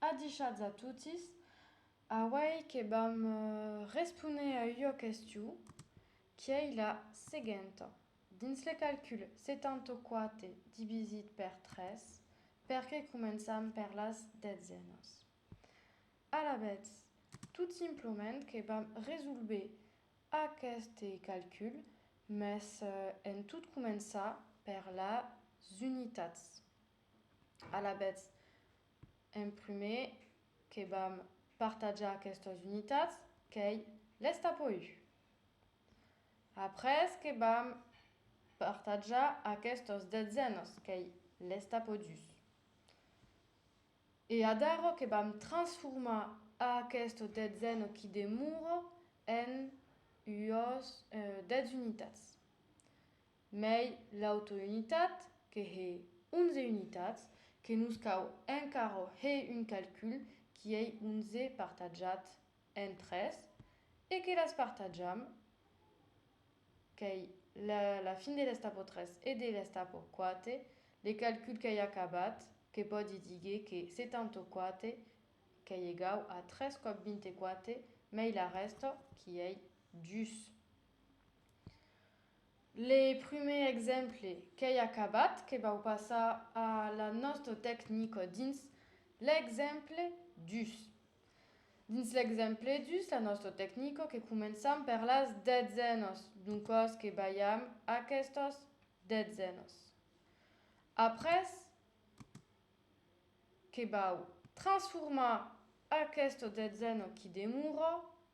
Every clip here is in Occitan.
Adishatz a totis, auei que vam responer a ua question qu'ei la seguenta, dins le calcul 74 divisit per 3, perqué començam per las detzènas? Alavetz, tot simplement que vam resolver aqueste calcul mès en tot començar per las unitats. Alavetz, En prumèr, que vam partajar aquestas unitats, qu'ei l'Estapoiu. Après que vam partajar aquestos detzènos, qu'ei l'Estapodus. E adaro que vam transformar aqueste detzèno qui demora en uòs dètz unitats. Mai l'autounitat, que hè 11 unitats, que nos cau encara hè un calcul qui ei 11 partatjat en 3, e que las partatjam, qu'ei la fin de l'estapo 3 e de l'estapo 4, le calcul qu'ei acabat, que pòdi díger que 74 qu'ei egau a 3 còp 24, mai la rèsta, qui ei dus. Le prumèr exemple qu'ei acabat que vau passar a la nòsto tecnico dins l'exemple dus. Dins l'exemple dus, la nòsto tecnico que començam per las detzènos, doncòs que balham aquestos detzènos. Après, que vau transformar aquesto detzèno qui demora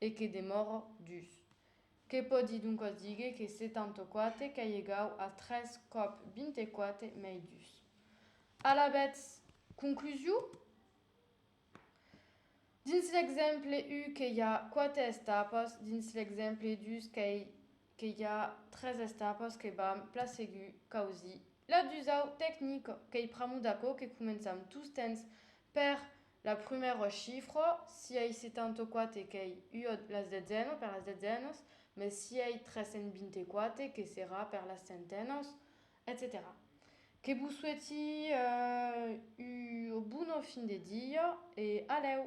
e que demòro dus. Que pòdi doncas díger que 74 qu'ei egau a 3 còp 24 mei dus. Alavetz, conclusiu? Dins l'exemple 1 que i a 4 estapas, dins l'exemple 2 qu'ei que i a 3 estapas que vam plasegur causir la dusau tecnica, qu'ei pr'amor d'aquò que començam tostemps per La prumèra chifra, si ei 74 qu'ei ua las detzena per las detzenas, mes si ei 324 que serà per las centenas, etcetèra Que vos sueti ua bona fin de dia e alèu!